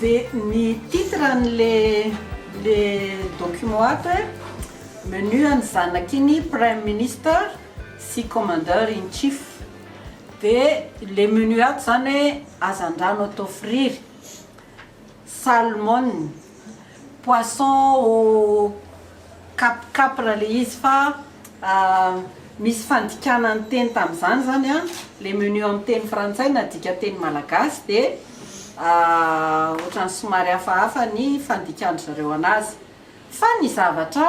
Dia ny titre an'le le document ato e, menu an'ny zanakin'ny prime minister sy commander in chief. Dia le menu ato zany hoe hazandrano atao friry, salmon. Poisson au cap capra le izy fa misy fandikana ny teny tamin'izany zany an, le menu amin'ny teny frantsay nadika teny malagasy de ohatran'ny somary hafahafa ny fandikan-dry zareo anazy fa ny zavatra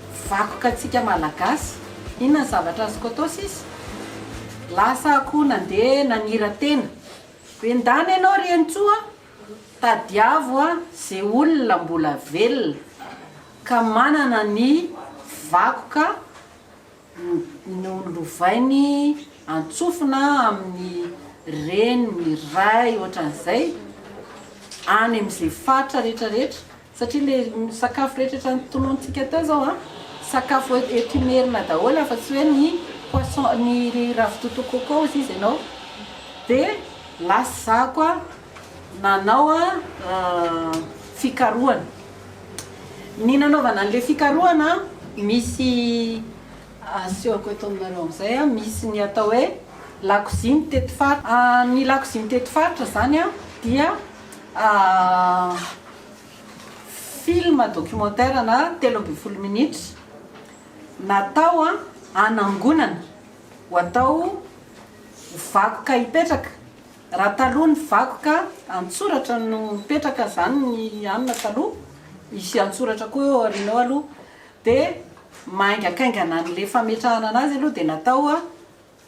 Vakoka tsika malagasy. Inona ny zavatra azoko atao sisa? Lasa akoho nandeha nanira-tena. Bendany ianao ry Henintsoa a! Tadiavo a ze olona mbola velona ka manana ny vakoka nolovainy antsofina amin'ny reny, ray ohatran'izay any amin'izay faritra rehetra rehetra. Satria le sakafo rehetra etra notolonintsika teo zao an, sakafo eto Imerina daholo afa tsy hoe ny poisson, ny ravitoto coco ozy izy enao de lasa zaho koa nanao fikarohana. Ny nanaovana anle fikarohana misy asehoko eto aminareo amzay an, misy ny atao hoe lakoziny teto faritra, ny lakoziny teto faritra zany an dia. Film documentaire na telo ambin'ny folo minitra natao hanangonana ho atao ho vakoka hipetraka. Raha taloha ny vakoka an-tsoratra no mipetraka, izany ny anona taloha, hisy an-tsoratra koa eo aoriana eo aloha, dia maingakaingana an'ilay fametrahana an'azy aloha dia natao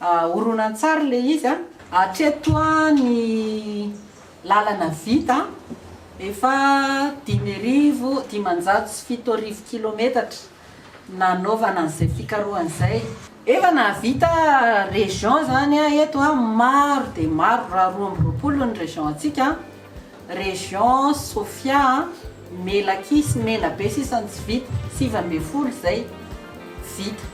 Horonantsary le izy a! Hatreto ny lalana vita efa dimy arivo dimanjato sy fito arivo kilometatra nanaovana an'izay fikarohana izay. Efa nahavita région zany a eto a, maro dia maro raha roa amby roapolo ny région antsika, région Sofia, Melaky sy Menabe sisa no tsy vita, sivy ambin'ny folo izay vita.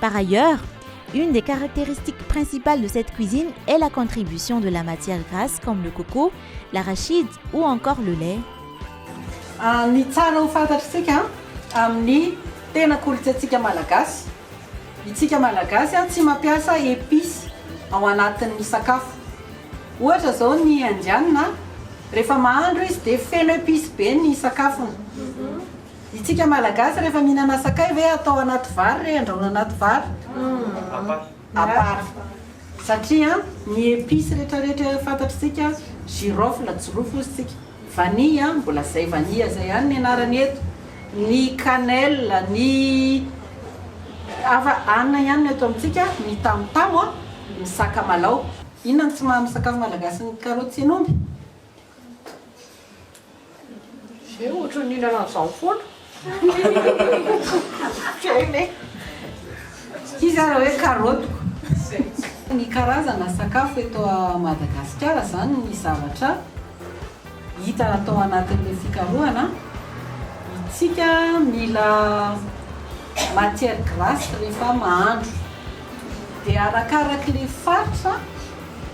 Par ailleurs, une des caractéristiques principales de cette cuisine est la contribution de la matière grasse comme le coco, l'arachide ou encore le lait. Ny tsara ho fantatr'isika amin'ny tena kolontsaintsika malagasy, itsika malagasy tsy mampiasa epices ao anatin'ny sakafo. Ohatra izao ny indiana rehefa mahandro izy dia feno epices be ny sakafony. Itsika malagasy rehefa mihinana sakay ve atao anaty vary re andrahoina anaty vary? Hum à part satria ny epices retraretra fantatr'tsika girofle jirofo ozy tsika vanille mbola zay vanille zay ihany ny anarany eto ny cannelle ny hafa anona ihany no eto amintsika ny tamotamo a ny sakamalaho. Inona no tsy maha misakafo malagasy ny karoty sy ny omby? Zay ohatry ny mihinana an'izany foana. Shame e. Ity zany hoe karaotiko. Ny karazana sakafo eto Madagasikara zany ny zavatra hita atao anatin'ilay fikarohana, itsika mila matière grasse rehefa mahandro dia arakarak'ilay faritra,